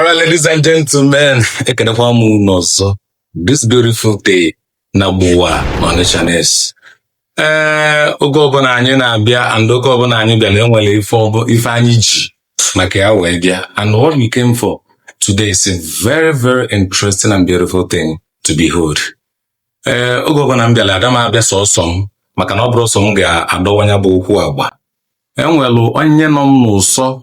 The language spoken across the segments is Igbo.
Alright, ladies and gentlemen, ekenekwa m unu ọzọ this beautiful day na gbuwa Onitsha Ness. Ee, oge ọbụla anyị na-abịa and oge ọbụla anyị bịara enwere ife ọbụ- ife anyị ji maka ya wee bịa and what we came for today is a very very interesting and beautiful thing to behold. Ee, oge ọbụla m bịara ada m abịa sọsọ m maka na ọ bụrụ sọ m ga-adọwa nya bụ okwu agba enwelụ onye nọ m n'ụsọ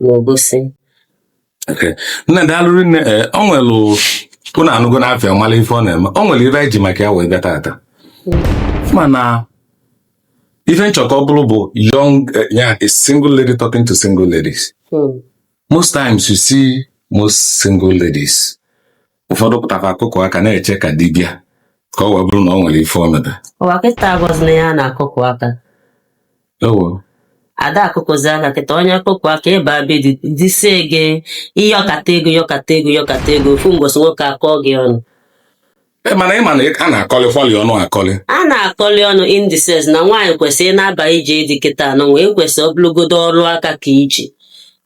n'Obosi Okay. nne daalụ rinne ee ọ nwere ụnụ anụgonụ afa ya mara ife ọ na-eme ọ nwere ife anyị ji maka ya wee bịa tata mana ife m chọ ka ọ bụrụ bụ young eh, ya a single lady talking to single ladies Hmm. most times you see most single ladies ụfọdụ pụtakwa akụkụ aka na-eche ka di bịa ka ọ wee bụrụ na ọ nwere ife ọ mebe ụwa kịta agwazị na ya na-akụkụ aka ewo ada akụkụzi aka kịta onye akụkụ aka ị ba be di disie gị ị yọkata ego yọkata ego yọkata ego ofu mbọsị nwoke akọ gị ọnụ e mana ị ma na a na-akọlị fọlị ọnụ akọlị a na-akọli ọnụ in the sense na nwaanyị kwesịrị ịna-aba ije di kịta anụnwa ekwesị ọ bụlụgodo ọrụ aka ka i ji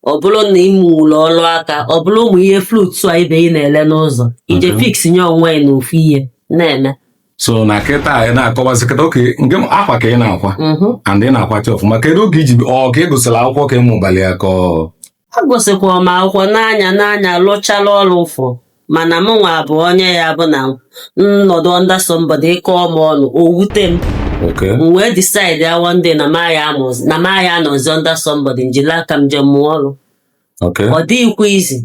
ọ bụrụ na ị mụrọ ọrụ aka ọ bụrụ ụmụ ihe fruit a ibe ị na-ele n'ụzọ i je Mhm. fix nye onwe yị n'ofu ihe na-eme so na kịta anyị na-akọwazi kịta okay nke m- akwa ka ị na-akwa Mhm. and ị na-akwacha ọfụma kedu oge i ji ọ ka ị gụsịrị akwụkwọ ka ị mụbalị ya ka ọ agụsịkwara m akwụkwọ n'anya n'anya lụchara ọrụ ụfọ mana mụnwa bụ onye ya bụ na nnọdụ under somebody ị kọọ m ọnụ o wute m Okay. m wee decide ya one day na m agha anọzi- na m agha anọzi under somebody m jiri aka m je mụọ ọrụ Okay. ọ dịghịkwa easy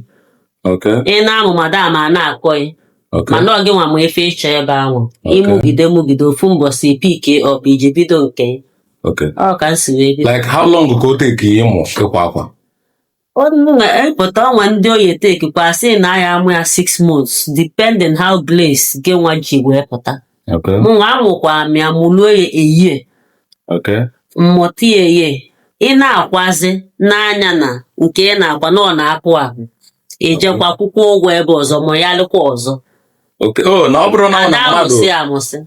Okay. ị na-amụ madam a na-akọ gị Okay. mana ọ gị nwa ma ife ị chọ ebe ahụ Okay. ị mụgide mụgide ofu mbọsị ị pick up i je bido nke gị. Okay. ọ ka m si wee bido Like how long ka o take ịmụ ịkwa akwa? Pụta o nwe ndị ọ ya-etake kwa asị na a ya-amụ ya six months, depending how grace gị nwa ji wee pụta. Okay. Mụnwa amụkwa m ya mụluo ya a year. Okay. M mụta ya a year. Ị na-akwazi n'anya na nke ị na-akwa na ọ na-apụ ahụ. I jekwa kwụkwa ụgwọ ebe ọzọ mụghalịkwa ọzọ. Okay. Oh, na ọ bụrụ na ọ na mmadụ. Amụsị amụsị.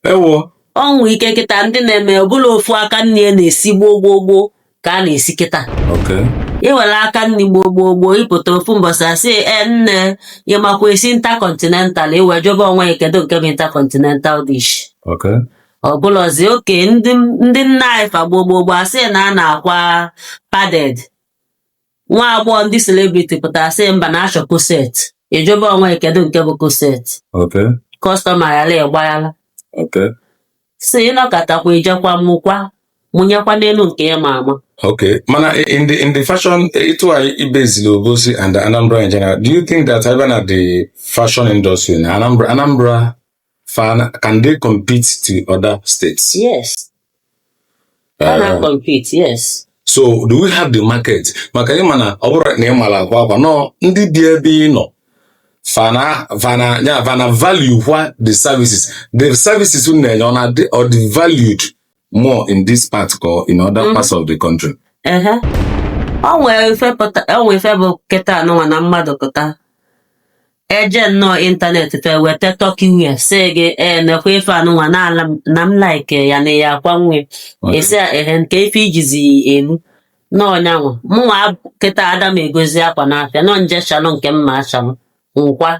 Ewo. O nwe ike kịta ndị na-eme ọ bụlọ ofu aka nni a na-esi gboo gboo gboo. ka a na-esi kịta Okay. i were aka nri gboo gboo gboo ị pụta ofu mbọsị asị e nne ị makwa esi intercontinental i wee jụba onwe yị kedu nke bụ intercontinental dish Okay. ọ bụlọzi oge ndị ndị nna anyị fa gboo gboo gboo asị na a na-akwa padded nwa agbọghọ ndị celebrity pụtara sị mba na a chọ corset ị jụba onwe gị kedu nke bụ corset Okay. customer ghara ịgbaghara Okay. sị ị nọkatakwa i jekwa mụkwa mụnyekwa n'enu nke ị ma ama Okay. Mana i- in the in the fashion etu a ibezili Obosi and Anambra in general, do you think that even at the fashion industry na Anambra Anambra Fa na, can they compete to other states? Yes. Uh, Fa na uh, compete, yes. So do we have the market? Maka ị ma na ọ bụrụ na ị mala akwa akwa nọ ndị bi ebe ị nọ fa na fa na ya fa na-avalue kwa the services the services unu na-enye ọ na-adị ọ dị valued more in this part or in other mm-hmm. parts of the country. Uh-huh. o nwere ife pụta o nwere ife bụ kịta anụnwa na mmadụ pụta eje nnọọ internet fe weta Turkey wear sị gị ee nekwa ife anụnwa n'ala m- na m like ya na ya akwa nwe Okay. esi ya ehe nke ife ijizi elu n'ọnyanwa mụnwa ab- kịta ada m egozi akwa n'afịa n'ọ m je chalụ nke m ma-achalụ m kwaa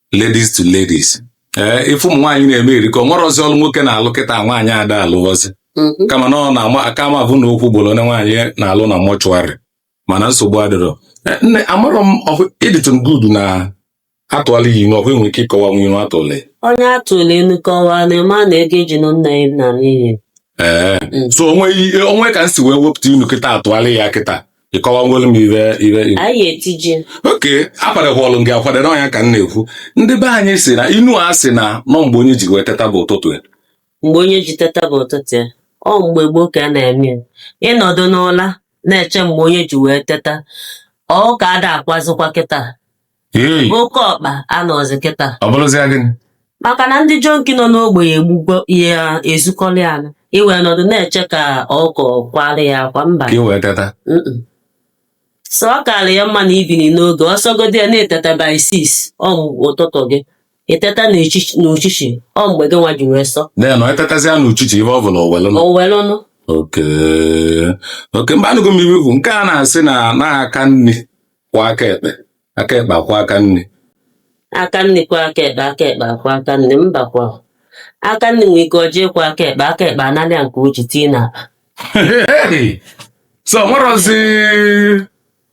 ladies to ladies ee ife ụmụ nwaanyị na-eme erika o nwerọzi ọlụ nwoke na-alụ kịta nwaanyị ada alụọzi Mhm. kama na ọ na-ama aka ma bụ na okwu gboro onye nwaanyị na-alụ na mortuary mana nsogbu adịrọ Eh, nne amarọ m ọhụ ị dịtụ good na a tụọla gị inu ọ i nwere ike ịkọwa nwa inu a tụọla ya. onye a tụala inu kọwaa na ị ma na ego e ji nụ nne ya naa n'iyi ee Mm. so o nwe ihe- o nwe ka m si wee wepụta inu kịta atụọla ya kịta ị kọwagolu m ibe ibe ibe anyị etije okay akwadehụọlụ m gị akwadere ọnya ka m na-ekwu ndị be anyị sị na inu a sị na ọ mgbe onye ji wee teta bụ ụtụtụ ya mgbe onye ji teta bụ ụtụtụ ya ọ mgbe gboo ka a na-eme ya ị nọdụ n'ụla na-eche mgbe onye ji wee teta ọkụkọ ada akwazikwa kịta oke ọkpa anọrọzi kịta ọ bụrụzia gịnị maka na ndị junkie nọ n'ogbe ya egbugo ya ezukọ lie anụ i wee nọdụ na-eche ka ọkụkọ kwaala ya akwa mba ka i wee teta Mm-mm. so ọ kaalị ya mma na i binie n'oge ọ sọgodi ya na i teta by six ọ bụ ụtụtụ gị i teta n'echichi- n'uchichi ọ mgbe gị nwa ji wee sọ na na i tetazia n'uchichi ibe ọ bụla owelu nọ o were ọnụ okay okay mba anụgo m inu bụ nke a na-asị na aka nni kwọ aka ekpe aka ekpe akwọ aka nni aka nni kwọ aka ekpe aka ekpe akwọ aka nni mba kwọ aka nni nwee ike ọjọọ ịkwọ aka ekpe aka ekpe analị ya nke o ji tinye n'akpa Hey! so o nwerọzi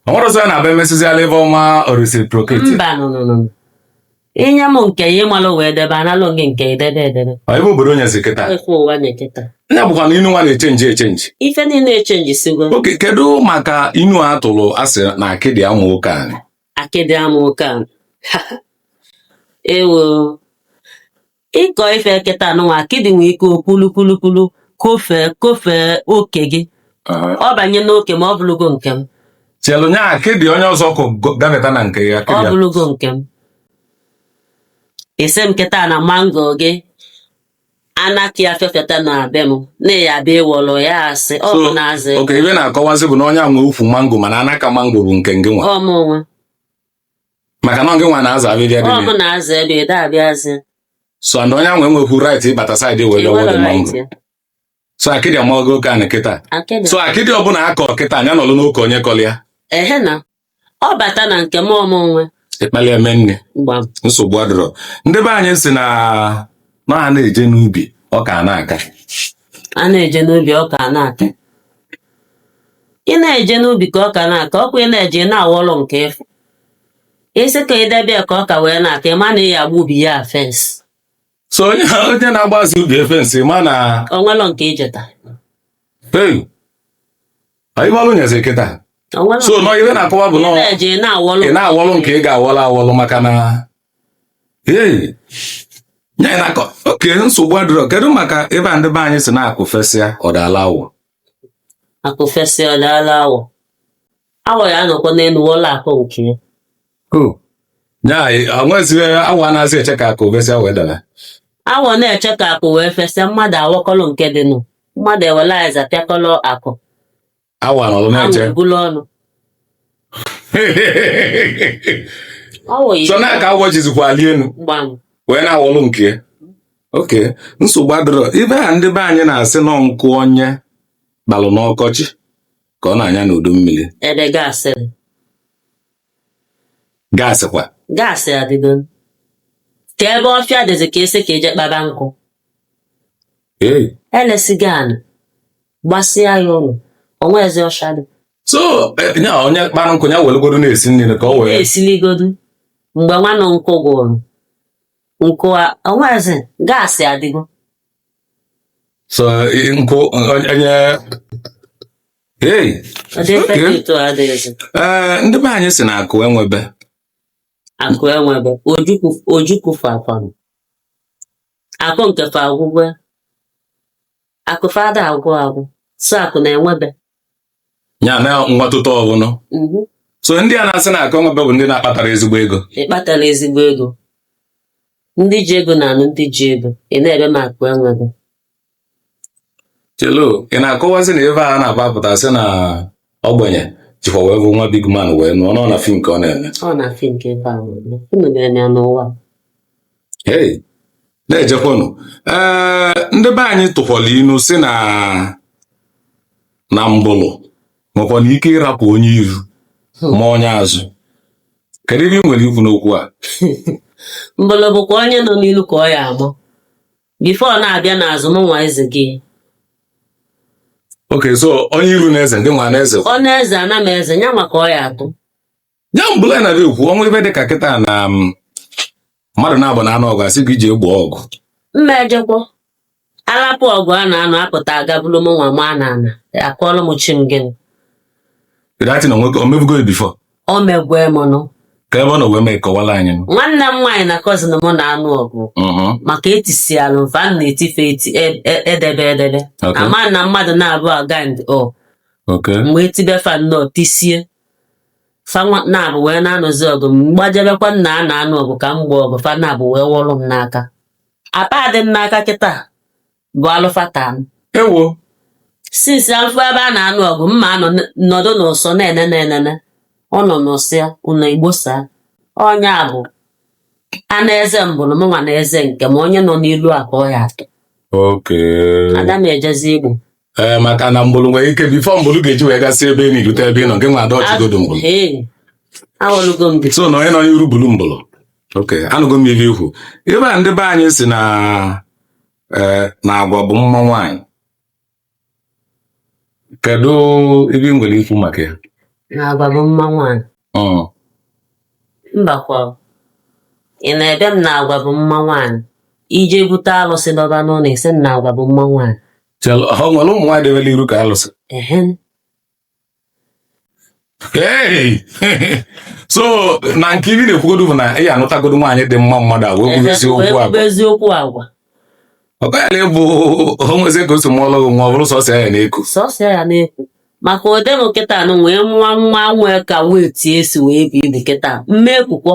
o nwerọzi a na-abịa emesịziala ebe ọma ọ reciprocate mba no no no i nye m nke ya ịmalụ wee debe analụ gị nke i debe edebe Ọ ebe obodo nyezi kịta ekwe ụwa na-eketa ya bụkwa na inu nwa na-echenji echenji ife niile echenjisigo okay kedu maka inu a tụrụ a sị na akịdị ama oke anị akịdị ama oke ewo Ịkọ ife kịta nụnwa akịdị nwee ike okwulukwulukwulu kofee kofee oke gị Aha. ọ banye n'oke m ọ bụlụgo nke m chelu nya akịdị onye ọzọ kụ go- gabata na nke ya ọ akịdị ya. bụlụgo nke m ị sị m kịta na mango gị anaka ya fefeta na be m na ya abịa ịwọrọ ya asị ọ bụ na-azị oke ibe na-akọwazi bụ na onye a nwe ukwu mango mana anaka mango bụ nke ngị nwa ọ mụ nwe maka na ọ gị nwa na-aza abịbịa dị ọ bụ na azụ ebe ede abịazi so and onye ahụ enwekwu right ịbata side wee wọlụ Enwere dị right. mango so akịdị amago oke anị kịta Akịdị. so akịdị ọbụla a kọ kịta nya nọlụ n'oke onye kọlị ya ehe na ọ bata na nke m ọ mụ nwe ị kpalị ya mee nni gbam nsogbu adịrọ ndị be anyị sị na na a na-eje n'ubi ọka a na-aka a na-eje n'ubi ọka a na-aka ị na-eje n'ubi ka ọka na-aka ọkwa ị na-eje ị na-awọrụ nke ị fụ ị sị ka ị debe ya ka ọka wee na-aka ị ma na ị ya-agba ubi ya fence so onye onye na-agbazi ubi ya fence ma na o nwelọ nke ijeta hey anyị gbalụ nyezi kịta o nwelọ so nọ ibe na-akọwa bụ ị nọ na-eje ị na-awọrụ ị na-awọlụ nke ị ga-awọlụ awọlụ maka na hey nye na-akọ oke nsogbu adịrọ kedu maka ebe a ndị be anyị sị na akụ fesịa ọ daala awọ akụ fesịa ọ daala awọ awọ ya anọkwa n'elu wọlụ akụ nke ya o nwezighị awọ a na-azị eche ka akụ fesịa wee daara awọ na-eche ka akụ wee fesịa mmadụ awọkọlọ nke dị nụ mmadụ ewela azịza pịakọlọ akụ awọ anọrọ na-eche anwụ ebulu ọnụ awọ yi so na ka awọ jizikwa ali elu gbam wee na-awọlụ nke ya oke nsogbu adịrọ ibe a ndị be anyị na-asị nọ nkụ onye kpalụ n'ọkọchị ka ọ na-anya n'udu mmiri ebe gas dị. gas kwa gas adịgo ka ebe ọfịa dịzi ka esi ka eje kpaba nkụ ee e lesigo anị gbasịa ya ụlọ o nwezi ọshịa dị so eh, nya onye kpara nkụ ya welugodo na-esi nri ka ọ wee esiligodu mgbe nwanụ nkụ gwụrụ nkụ a o nwezi gas adịgo so i- nkụ onye onye- hey ọ dị Okay. efekit adịghịzi ee ndị be anyị sị na akụ enwebe akụ enwebe ojukwu ojukwu fakwanụ akụ nke fa agwụgwe akụ fa ada agwụ agwụ so akụ na-enwebe ya na nwatụta ọbụla mhm. so ndị a na-asị na akụ enwebe bụ ndị na-akpatara ezigbo ego ị kpatara ezigbo ego ndị ji ego na-anụ ndị ji ego ị na-ebe m akụ enwebe chelo ị na-akọwazi na ebe a na-agbapụta sị na ogbenye jikwa wee fụ nwa big man wee nụọ nọ na film ka ọ na-eme ọ na film ka ebe ahụ unu ga-eme n'ụwa hey na-ejekwanụ ee ndị be anyị tụkwara inu sị na na mbụlụ nwekwanụ ike ịrapụ onye iru ma onye azụ kedu ihe ị nwere ikwu n'okwu a mbụlụ bụkwa onye nọ n'ilu ka ọ ya-agbọ before ọ na-abịa n'azụ mụnwa ezego okay so onye iru na-eze ndị nwa na-eze ọ na-eze ana m eze ya nwa ka ọ ya-atụ ya mbụlụ a na-abịa ekwu ọnwa ibe dị ka kịta na um, mmadụ naabọ na-anụ ọgụ a sị gị je egbo ọgụ m ma ejekwa a lapụ ọgụ a na-anụ apụta aga bulu mụnwa mana a na-akọọlụ m chi m gịnị dati na nwoke o mebugo ya before o megwo m nụ kee ebe ọ nọ wee mee kọwalụ anyị nụ. nwanne m nwaanyị na cousin m na-anụ ọgụ Mhm. maka etisialụ mfa m na-etife eti e- e- edebe edebe Okay. mana mmadụ naabọ agand o okay mgbe etibe fa nnọọ tisie fa nwa- naabọ wee na-anụzi ọgụ m gbajebekwa na a na-anụ ọgụ ka m gboo ọgụ fa naabọ wee wọrọ m n'aka apa dị m n'aka kịta bụ alụ fa taa m ewo since alụfa ebe a na-anụ ọgụ mụ anọ n- nọdụ n'ụsọ na-enene enene ọ nọ n'ụsọ ya ụnọ Igbo sị onye ọbụna na-eze mbụrụ mụnwa na-eze nke m onye nọ n'ilu a ka ọ ya-atụ okay ada m ejezi igbo ee maka na mgbụrụ nwere ike before mgbụrụ ga-eji wee gasị ebe niine rute ebe ị nọ gị nwa adodgegodo mgbụrụ Ee, awọlugo m bi. so na onye nọ n'iru bulu mbụlụ okay anụgo m ihe i kwu ebe a ndị be anyị sị na ee, na agwa bụ mma nwaanyị kedu ife ị nwere ikwu maka ya Na agwa bụ mma nwaanyị. Mm, Mbakwa. Ị na-ebe m na agwa bụ mma nwaanyị. I je bute alụsị dọba n'ụnọ ị sị m na agwa bụ mma nwaanyị. ha e nwere ụmụ nwaanyị debelụ iru ka alụsị so na nke ife ị na-ekwugodu bụ na ị ya-anụtagodu nwaanyị dị mma mmadụ a wee kwubezie okwu agwa eziokwu agwa ọkọyala ịbụ o nwezi ka o si mụọlụ gị nwa ọ bụrụ sọsọ ya na-eku sọsọ ya na-eku maka ọ dị m kịta nụ wee mụa nwa nwee ka wee tie isi wee buo ibu kịta m ma ekukwọ